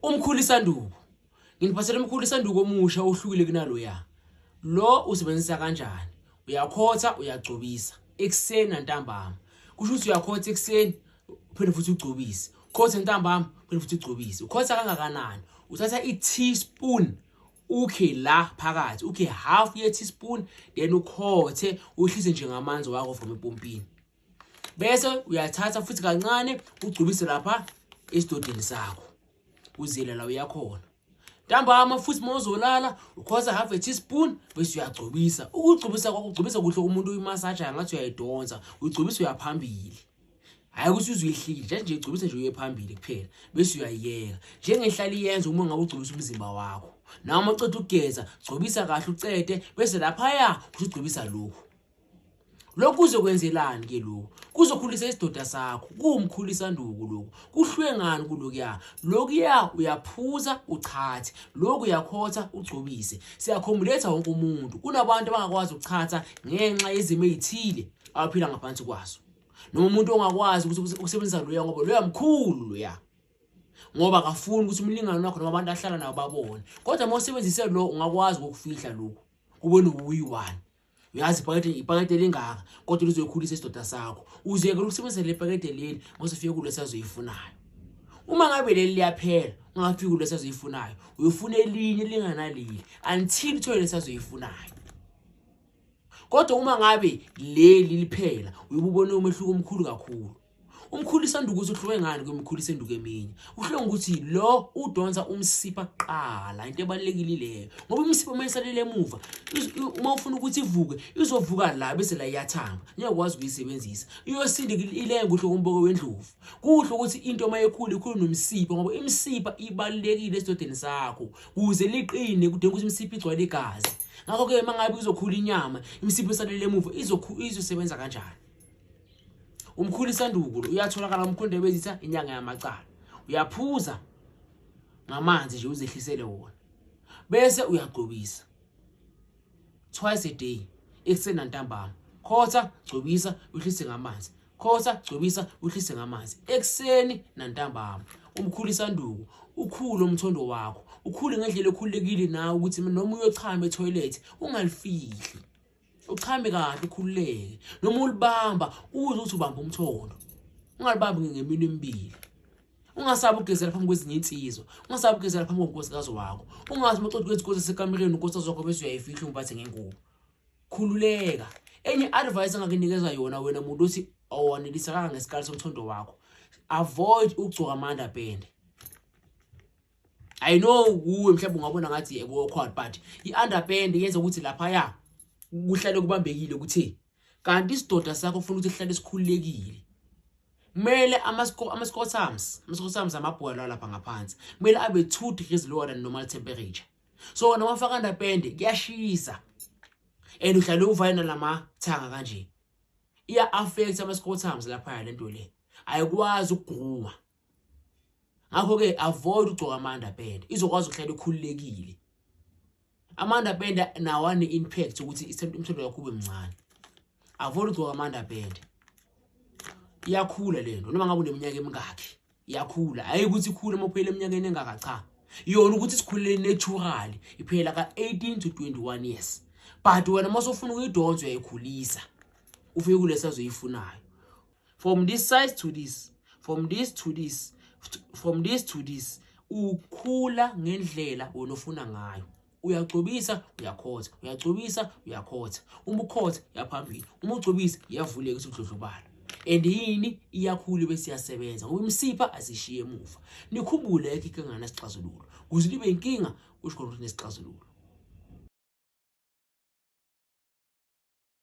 Umkhulu isanduku. Nginiphathele umkhulu isanduku omusha ohlukile kunaloya. Lo usebenzisa kanjani? Uyakhotha, uyagcobisa ekuseni nantambama. Kusho ukuthi uyakhotha ekuseni uphinde futhi ugcobise. Khotha ntambama uphinde futhi ugcobise. Ukhotha kangakanani? Uthatha i-teaspoon ukhe la phakathi ukhe half ye teaspoon then ukhothe uhlise nje ngamanzi wakho from epompini bese uyathatha futhi kancane ugcubise lapha esidodeni sakho uzile la uyakhona ntambama futhi uma uzolala ukhosa half a teaspoon bese uyagcobisa ukugcobisa kwakho ugcobisa kuhle umuntu uyimasaja ngathi uyayidonsa uyigcobisa uyaphambili hayi ukuthi uzuyihlile nje nje igcobisa nje uye phambili kuphela bese uyayiyeka njengehlala iyenza uma ngabe ugcobisa umzimba wakho nawe uma uceda ukugeza gcobisa kahle ucede bese laphaya usugcobisa lokhu lokhu kuzokwenzelani ke lokhu kuzokhulisa isidoda sakho kuwumkhulisa nduku lokhu kuhlwengani kulokuya lokuya uyaphuza uchathe lokhu uyakhotha ugcobise siyakhomuletha wonke umuntu kunabantu abangakwazi ukuchatha ngenxa yezimo ezithile abaphila ngaphansi kwazo noma umuntu ongakwazi ukuthi ukusebenzisa loya ngoba loya mkhulu loya ngoba akafuni ukuthi umlingane wakho noma abantu ahlala nabo babone kodwa uma usebenzise lo ungakwazi ukufihla lokhu kubona ubuyi wani uyazi ipakede ipakede elingaka kodwa lizoyikhulisa isidoda sakho uziyekela ukusebenzisa le pakede leli ngoze ufike kulo sazoyifunayo uma ngabe leli liyaphela ungafiki kulo sazoyifunayo uyofuna elinye linganaleli until uthole lesazoyifunayo kodwa uma ngabe leli liphela uyububona umehluko omkhulu kakhulu Umkhulu isanduku ukuthi uhluke ngani kwemkhulu isenduku eminye. Uhluke ukuthi lo udonsa umsipha kuqala into ebalekile leyo. Ngoba umsipha uma esalele emuva uma ufuna ukuthi ivuke izovuka la bese la iyathamba. Niyakwazi ukuyisebenzisa. Iyosinda ilenga kuhle komboko wendlovu. Kuhle ukuthi into uma ekhula ikhulu nomsipha ngoba imsipha ibalekile esidodeni sakho. Kuze liqine kudinga ukuthi imsipha igcwale igazi. Ngakho ke mangabe izokhula inyama imsipha esalele emuva izosebenza kanjani? umkhulu isandukulu uyatholakala umkhulu into ebezitha inyanga yamacala uyaphuza ngamanzi nje uzehlisele wona bese uyagcobisa twice a day ekuseni nantambama khotha gcobisa uhlise ngamanzi khotha gcobisa uhlise ngamanzi ekuseni nantambama umkhulu isanduku ukhulu umthondo wakho ukhule ngendlela ekhululekile nawe ukuthi noma uyochama etoilet ungalifihli uchame kahle ukhululeke noma ulibamba uze uthi ubamba umthondo ungalibambi ngemini emibili ungasabi ukugezela phambi kwezinye insizwa ungasabi ukugezela phambi konkosikazi wakho ungathi uma uceda ukwenza inkosi esekamereni unkosikazi wakho bese uyayifihla umbathe ngengubo khululeka enye advice angakunikeza yona wena muntu othi awanelisa kangangesikali somthondo wakho avoid ukugcoka amanda pende i know kuwe mhlawumbe ungabona ngathi ekuwokhona but i-underpand yenza ukuthi laphaya kuhlale kubambekile ukuthi kanti isidoda sakho ufuna ukuthi sihlale sikhululekile kumele ama-scotams ama-scotams amabhola lapha ngaphansi kumele abe two degrees lower than normal temperature so wona wafaka ndapende kuyashisa and uhlale uvayena lama thanga kanje iya affect ama scotums lapha le nto le ayikwazi ukuguma ngakho-ke avoid ukugcoka ama-underband izokwazi ukuhlala ikhululekile ama-underband nawo ane-impact ukuthi umthondo wakho ube mncane avoid ukugcoka ama-underband iyakhula le nto noma ngabe uneminyaka emingakhi iyakhula hhayi ukuthi ikhule uma uphela eminyakeni engaka cha yona ukuthi sikhulele naturally iphela ka-18 to 21 years but wena uma sofuna ukuyidonsa uyayikhulisa ufike kulesi azoyifunayo from this size to this from this to this from this to this ukhula ngendlela wena ofuna ngayo uyagcobisa uyakhotha uyagcobisa uyakhotha uma ukhotha yaphambili uma ugcobisa iyavuleka isudlodlobala and yini iyakhulu bese iyasebenza ngoba imisipha asishiye emuva nikhumbule ekho inkinga nesixazululo kuze libe inkinga kusho ukuthi nesixazululo